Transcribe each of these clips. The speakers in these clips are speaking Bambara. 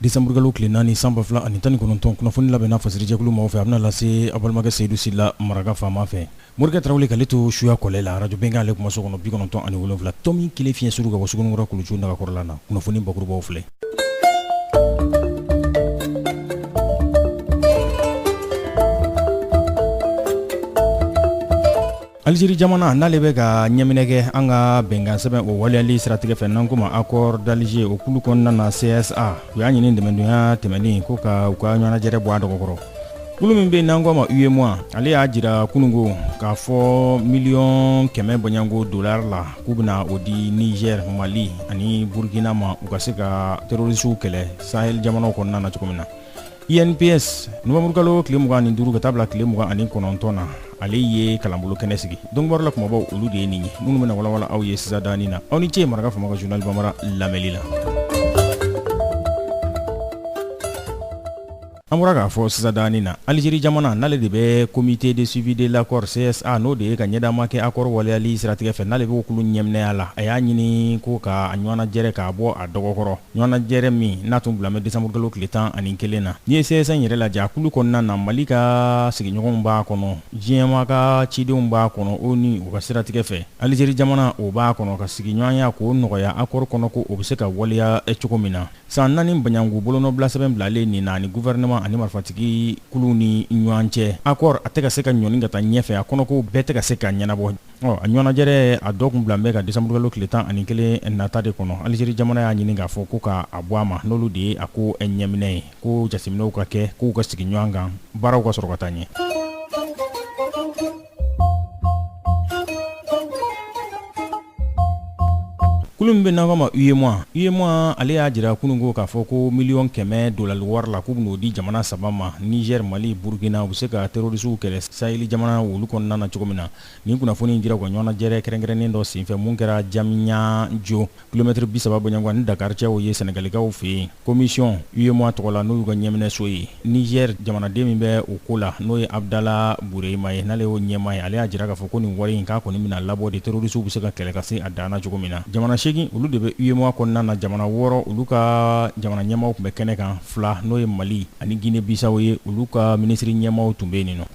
Desanburukalo tile naani san ba fila ani tan ni kɔnɔntɔn kunnafoni labɛnna fasirijɛkulu maaw fɛ a bɛna lase aw balimakɛ Seyidu Sila maraka faama fɛ morikɛ tarawele k'ale to suya kɔlɛ la arajo Bɛnkan ale kumaso kɔnɔ bi kɔnɔntɔn ani wolonwula tomi kelen fiɲɛ suru ka bɔ Suguninkura kuluju nagakɔrɔla na kunnafoni bakurubaw filɛ Aliziri jamana n'ale bɛ ka ɲɛminɛ kɛ an ka bɛnkansɛbɛn o waleyali siratigɛ fɛ n'an k'o ma accord d'Alger o kulu kɔnɔna na CSA u y'a ɲini tɛnɛdonya tɛmɛnen ko ka u ka ɲɔgɔnnajɛrɛ bɔ a dɔgɔkɔrɔ kulu min bɛ n'an k'o ma UEMOA ale y'a jira kunungo k'a fɔ miliyɔn kɛmɛ bɔɲɔgɔnko dolari la k'u bɛna o di Niger, Mali ani Burukina ma u ka se ka terrorisiw kɛlɛ sahel jamanaw kɔnɔna na cogo min na. INPS nowanburukalo tile mugan ni duuru ka taa bila tile mugan ani kɔnɔntɔn na ale ye kalanbolo kɛnɛ sigi donkibaru la kumabaw olu de ye nin ye minnu bɛna walawala aw ye sisan daanin na aw ni ce maraka faama ka journal bambara lamɛli la an bɔra k'a fɔ sisan daanin na alizeri jamana n'ale de bɛ comité de suivi de l'accord csa n'o de ye ka ɲɛdaama kɛ accord waleyali siratigɛ fɛ n'ale b'o kulu ɲɛminɛya la a y'a ɲini ko ka a ɲɔgɔnnajɛrɛ k'a bɔ a dɔgɔkɔrɔ Ɲɔgɔnnajɛrɛ min n'a tun bilalen bɛ desanburukalo tile tan ani kelen na, n'i ye CSA yɛrɛ lajɛ a kulu kɔnɔna na Mali ka sigiɲɔgɔnw b'a kɔnɔ, diɲɛmaa ka cidenw b'a kɔnɔ, ONU o ka siratigɛ fɛ, Algérie jamana o b'a kɔnɔ, ka sigiɲɔgɔnya k'o nɔgɔya accord kɔnɔko o bɛ se ka waleya cogo min na. San naani bɔɲɔgɔnko bolonɔbilasɛbɛn bilalen nin na ani gouvernement ani marifatigi kuluw ni ɲɔgɔn cɛ, accord a tɛ ka se ka ɲɔni ka taa ɲɛfɛ, a kɔnɔkow bɛɛ tɛ ka se ka ɲɛnabɔ. Ɔ a ɲɔgɔnnajɛrɛ a don tun bilalen bɛ ka desanburukalo tile tan ani kelen nata de kɔnɔ aliziri jamana y'a ɲini k'a fɔ ko k'a bɔ a ma n'olu de ye a ko ɲɛminɛ ye ko jateminɛw ka kɛ k'u ka sigiɲɔgɔn kan baaraw ka sɔrɔ ka taa ɲɛ kulu min bɛ n'an k'o ma UEMOA UEMOA ale y'a jira kunungo k'a fɔ ko miliyɔn kɛmɛ dolari wari la k'u bɛn'o di jamana saba ma nizɛri mali burukina u bɛ se ka terorisiw kɛlɛ saheli jamana olu kɔnɔna na cogo min na nin kunnafoni in dira u ka ɲɔgɔnnajɛrɛ kɛrɛnkɛrɛnnen dɔ senfɛ min kɛra Jamniyajo kilomɛtiri bi saba bɔɲɔgɔnko ani Dakari cɛ o ye sɛnɛgalikaw fɛ yen komisiyɔn UEMOA tɔgɔ la n'o y'u ka ɲɛminɛso ye Nizɛri jamanaden min bɛ o ko la n'o ye abudala burema ye n'ale y'o ɲɛmaa ye ale y'a jira k'a fɔ ko nin wari in k'a kɔni bɛna labɔ de terorisiw bɛ se ka kɛlɛ ka se a dan na cogo min na jamana segin olu de bɛ UEMOA kɔnɔna na jamana wɔɔrɔ olu ka jamana ɲɛmaaw tun bɛ kɛnɛ kan fila n'o ye mali ani gine bisaw ye olu ka minisiri ɲɛmaaw tun bɛ yen nin nɔ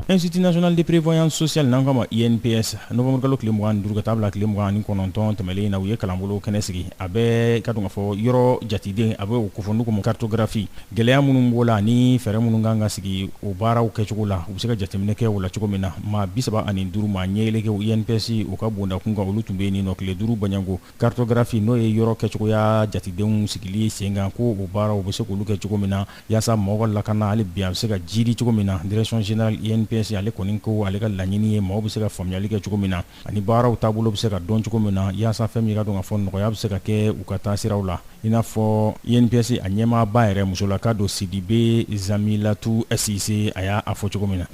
Institut national de prévoyance sociale n'an k'a ma INPS novembre kalo tile 25 ka taa bila tile 29 tɛmɛlen in na, u ye kalanbolo kɛnɛ sigi, a bɛɛ k'a dɔn k'a fɔ yɔrɔ jateden a bɛ o kofɔ n'u k'o ma cartographie gɛlɛya minnu b'o la ani fɛɛrɛ minnu ka kan ka sigi o baaraw kɛcogo la, u bɛ se ka jateminɛ kɛ o la cogo min na, maa 35 maa ɲɛɛlɛkɛw INPS o ka bonda kun kan olu tun bɛ yen ninɔ tile 5 bɔɲɔgɔnko. Cartographie n'o ye yɔrɔ kɛcogoya jatedenw sigili sen kan ko o baaraw bɛ se k'olu kɛ cogo min na yaasa mɔgɔ ka lakana hali bi a bɛ se ka jiidi cogo min na direction générale INPS ale kɔni ko ale ka laɲini ye maaw bɛ se ka faamuyali kɛ cogo min na ani baaraw taabolo bɛ se ka dɔn cogo min na yaasa fɛn min k'a dɔn k'a fɔ nɔgɔya bɛ se ka kɛ u ka taasiraw la i n'a fɔ INPS a ɲɛmaaba yɛrɛ musolaka don Sidibe Zamilatu Sise a y'a fɔ cogo min na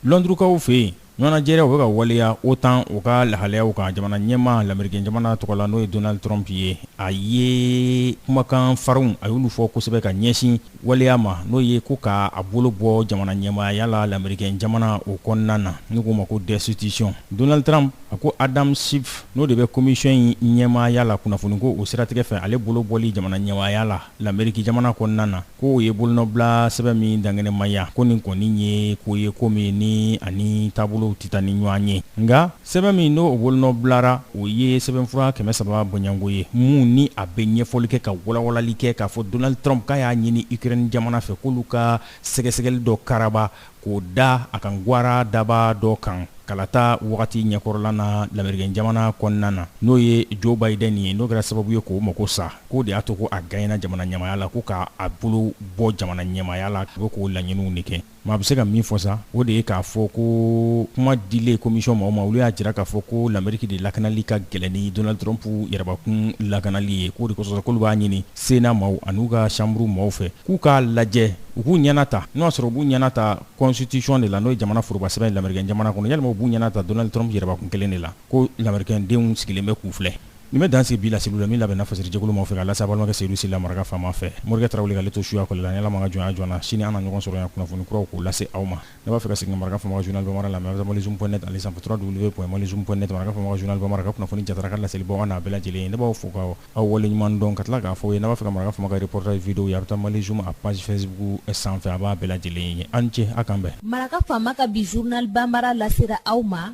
Lɔndurukaw fɛ yen ɲɔgɔnnajɛrɛw bɛ ka waleya OTAN o ka lahalayaw kan jamana ɲɛmaa lamerikɛn jamana tɔgɔ la n'o ye Donald Trump ye a ye kumakan farinw a y'olu fɔ kosɛbɛ ka ɲɛsin waleya ma n'o ye ko k'a bolo bɔ jamana ɲɛmaaya la lamerikɛn jamana o kɔnɔna na n'u k'o ma ko destitution Donald Trump a ko Adam Schiff n'o de bɛ commission in ɲɛmaaya la kunnafoni ko o siratigɛ fɛ ale bolo bɔli jamana ɲɛmaaya la Lameriki jamana kɔnɔna na k'o ye bolonɔbila sɛbɛn min dankɛnɛmaya ko nin kɔni ye ko ye ko min ni a ni taabolo tɛ taa ni ɲɔgɔn ye nka sɛbɛn min n'o bolonɔbilara o ye sɛbɛnfura kɛmɛ saba bɔɲɔgɔnko ye min ni a bɛ ɲɛfɔli kɛ ka walawalali kɛ k'a fɔ Donald Trump k'a y'a ɲini Ukraine jamana fɛ k'olu ka sɛgɛsɛgɛli dɔ karaba k'o da a kan gwara daba dɔ kan kalata wagati ɲɛkɔrɔla na lamerikɛn jamana kɔnɔna na n'o ye Joe Biden ye n'o kɛra sababu ye k'o mako sa k'o de y'a to ko a gaɲɛna jamana ɲɛmaaya la ko k'a a bolo bɔ jamana ɲɛmaaya la ko k'o laɲiniw de kɛ maa bɛ se ka min fɔ sa o de ye k'a fɔ ko kuma dilen komisɔn maaw ma olu y'a jira k'a fɔ ko lameriki de lakanali ka gɛlɛn ni Donald Trump yɛrɛbakun lakanali ye k'o de kosɔn k'olu b'a ɲini Sénat maaw ani u ka chambre maaw fɛ k'u k'a lajɛ U k'u ɲɛna ta n'o y'a sɔrɔ u b'u ɲɛna ta constitution de la n'o ye jamana forobasɛbɛn ye lamɛriken jamana kɔnɔ yalima u b'u ɲɛna ta Donald Trump yɛrɛbakun 1 de la ko lamɛriken denw sigilen bɛ k'u filɛ nin bɛ dan sigi bi laseliw la min labɛnna fasiri jɛkulu maaw fɛ k'a lase a balimakɛ Seydou Sylla maraka faama fɛ Morikɛ Tarawele ka ale to suya kɔli la ni Ala m'a ka jɔnya jɔ an na sini an na ɲɔgɔn sɔrɔ yan kunnafoni kuraw k'u lase aw ma n'a b'a fɛ ka segin ka maraka faama ka journal bambara lamɛn a bɛ taa malizoom point net ale sanfɛ www point malizoom point net maraka faama ka journal bambara ka kunnafoni jatara ka laseli baw a n'a bɛɛ lajɛlen ye ne b'aw fo k'aw waleɲuman dɔn ka tila k'a fɔ aw ye n'a b'a fɛ ka maraka faama ka reportage video ye a bɛ taa malizoom a page facebook sanfɛ a b'a bɛɛ lajɛlen ye aw ni ce a k'an bɛn maraka faama ka bi journal bambara lasera aw ma